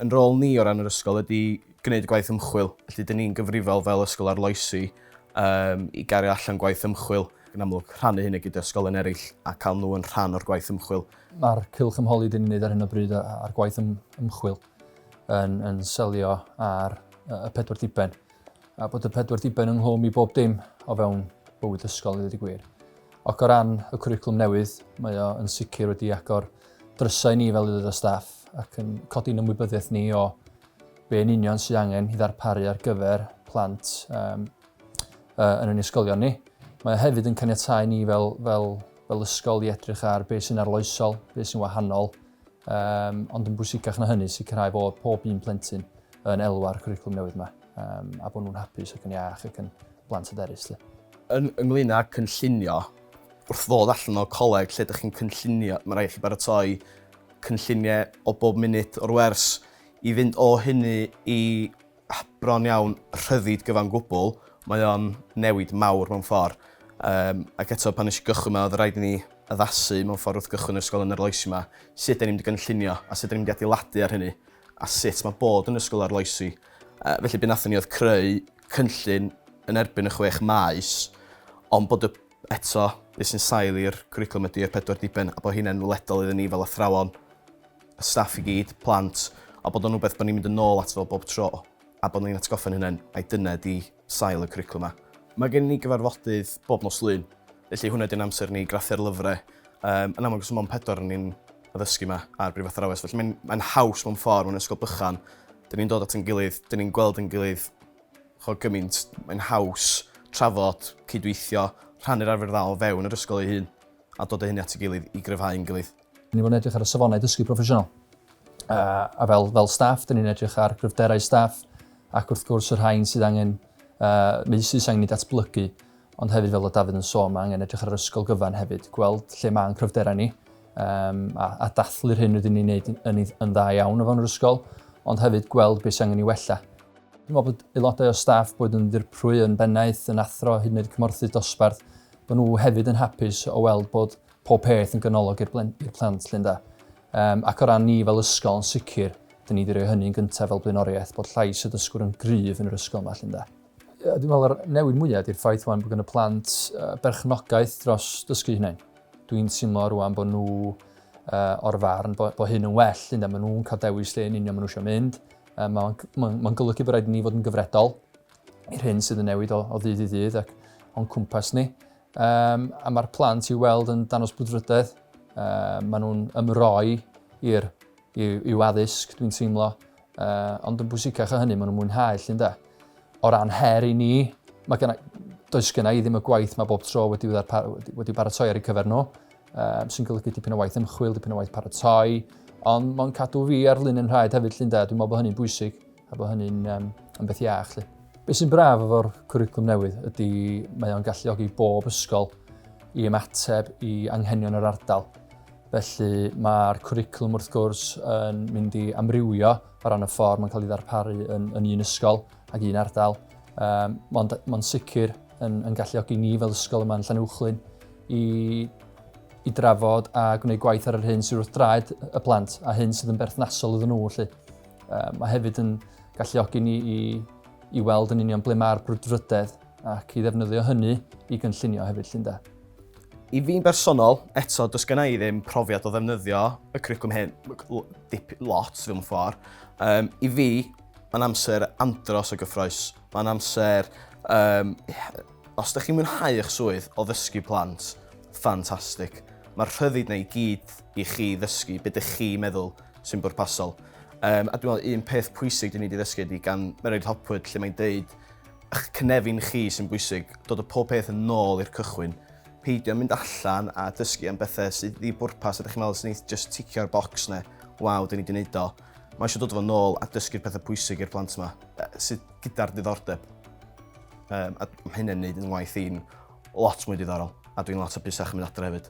Yn rôl ni o ran yr ysgol ydi gwneud y gwaith ymchwil. Felly dyn ni'n gyfrifol fel ysgol arloesi um, i gario allan gwaith ymchwil yn amlwg rhannu hynny gyda ysgolion eraill a cael nhw yn rhan o'r gwaith ymchwil. Mae'r cylch ymholi dyn ni'n gwneud ar hyn o bryd a'r gwaith ym, ymchwil yn, yn selio ar y pedwar diben a bod y pedwar diben ynghlwm i bob dim o fewn bywyd ysgol i ddweud y gwir. Ac o ran y cwricwlwm newydd, mae o yn sicr wedi agor drysau ni fel aelod o staff ac yn codi'n ymwybyddiaeth ni o be yn union sydd angen i ddarparu ar gyfer plant um, uh, yn ein ysgolion ni. Mae o hefyd yn caniatau ni fel, fel, fel ysgol i edrych ar beth sy'n arloesol, beth sy'n wahanol, um, ond yn bwysicach na hynny sicrhau bod pob un plentyn yn elwa'r cwricwlwm newydd yma um, a bod nhw'n hapus ac yn iach ac yn blant hyderus. Yn, ynglyn â cynllunio, Wrth ddod allan o coleg lle dych chi'n cynllunio, mae rhaid i chi baratoi cynlluniau o bob munud o'r wers. I fynd o hynny i bron iawn rhyddid gyfan gwbl, mae o'n newid mawr mewn ffordd. Um, ac eto, pan nes i gychwyn yma, oedd rhaid i ni addasu mewn ffordd wrth gychwyn yr ysgol yn yr loes yma, sut da ni'n mynd i gynllunio a sut da ni'n mynd i adeiladu ar hynny, a sut mae bod yn ysgol arloesi. Uh, felly, beth nathon ni oedd creu cynllun yn erbyn y chwech maes ond bod y... eto, be sy'n sail i'r cwricwlwm ydy yr pedwar diben a bod hynna'n weledol iddyn ni fel athrawon, y staff i gyd, plant a bod o'n rhywbeth bod ni'n mynd yn ôl ato fo bob tro a bod ni'n atgoffa'n hunain mai dyna ydy sail y cwricwlwm 'ma. Mae gennyn ni gyfarfodydd bob nos Lun felly hwnna ydy'n amser ni i graffu'r lyfrau. Yym yn amlwg os dim ond pedwar o ni'n addysgu 'ma ar brifathrawes felly mae'n mae'n haws mewn ffordd mewn ysgol bychan 'dyn ni'n dod at 'yn gilydd 'dyn ni'n gweld 'yn gilydd ch'od gymint mae'n haws trafod cydweithio rhannu'r arfer dda o fewn yr ysgol ei hun a dod â hynny at 'i gilydd i gryfhau 'yn gilydd. Ni fod yn edrych ar y safonau dysgu proffesiynol. A, a fel, fel staff, dyn ni'n edrych ar gryfderau staff ac wrth gwrs y rhain sydd angen uh, meusydd sy'n angen ei datblygu ond hefyd fel y Dafydd yn sôn mae angen edrych ar yr ysgol gyfan hefyd gweld lle mae'n cryfderau ni um, a, a dathlu'r hyn rydyn ni'n gwneud yn, yn dda iawn o fewn yr ysgol, ond hefyd gweld beth sy'n angen i wella. Dwi'n meddwl bod aelodau o staff bod yn ddirprwy yn bennaeth, yn athro, hyd yn oed cymorthydd dosbarth, bod nhw hefyd yn hapus o weld bod pob peth yn ganolog i'r plant llun da. Um, ac o ran ni fel ysgol yn sicr, dyn ni wedi rhoi hynny'n gyntaf fel blaenoriaeth bod llais y dysgwr yn gryf yn yr ysgol yma llun da. Dwi'n meddwl yr newid mwyaf ydy'r ffaith wan bod gen y plant berchnogaeth dros dysgu hynny. Dwi'n teimlo rwan bod nhw o'r farn bod, bod hyn yn well, ynda, maen nhw'n cael dewis lle yn union maen nhw eisiau mynd. Uh, Mae'n ma, ma golygu bod rhaid ni fod yn gyfredol i'r hyn sydd yn newid o, o ddydd i ddydd ac o'n cwmpas ni. Um, a mae'r plant i'w weld yn danos brwdfrydedd. Um, maen nhw'n ymroi i'r i'w addysg, dwi'n teimlo, Uh, ond yn bwysicach o hynny, maen nhw'n mwynhau llun da. O ran her i ni, mae gen does gen i ddim y gwaith mae bob tro wedi, wedi, wedi paratoi ar ei cyfer nhw, uh, sy'n golygu dipyn o waith ymchwil, dipyn o waith paratoi, ond mae'n cadw fi ar lun yn rhaid hefyd llun da, dwi'n meddwl bod hynny'n bwysig a bod hynny'n um, yn beth iach. Lle. Be sy'n braf efo'r cwricwlwm newydd ydy mae o'n galluogi bob ysgol i ymateb i anghenion yr ardal. Felly mae'r cwricwlwm wrth gwrs yn mynd i amrywio o ran y ffordd mae'n cael ei ddarparu yn, yn un ysgol ac un ardal. Um, mae'n ma sicr yn, yn galluogi ni fel ysgol yma'n Llanuwchlyn i, i drafod a gwneud gwaith ar yr hyn sydd wrth draed y plant a hyn sydd yn berthnasol iddyn nhw. Felly. Um, mae hefyd yn galluogi ni i, i weld yn union ble mae'r brwdfrydedd ac i ddefnyddio hynny i gynllunio hefyd 'lly ynde? I fi'n bersonol, eto, does genna i ddim profiad o ddefnyddio y cwricwlwm hyn, dip, lot fel mewn ffordd. Um, I fi, mae'n amser andros o gyffroes. Mae'n amser, um, os ydych chi'n mwynhau eich swydd o ddysgu plant, ffantastig. Mae'r rhyddid na i gyd i chi ddysgu beth ydych chi meddwl sy'n bwrpasol. Um, a dwi'n meddwl un peth pwysig dyn ni wedi ddysgu ydy gan Mererid Hopwood lle mae'n deud eich cynefin chi sy'n bwysig, dod o pob peth yn nôl i'r cychwyn. Peidio mynd allan a dysgu am bethau sydd ddi bwrpas a da chi'n meddwl sy'n eith just ticio'r box neu waw, dyn ni wedi wneud o. Mae eisiau dod fo nôl a dysgu'r pethau pwysig i'r plant yma, sydd gyda'r diddordeb. Um, a mae hynny'n gwneud yn waith i'n lot mwy diddorol a dwi'n lot o busach yn mynd adre hefyd.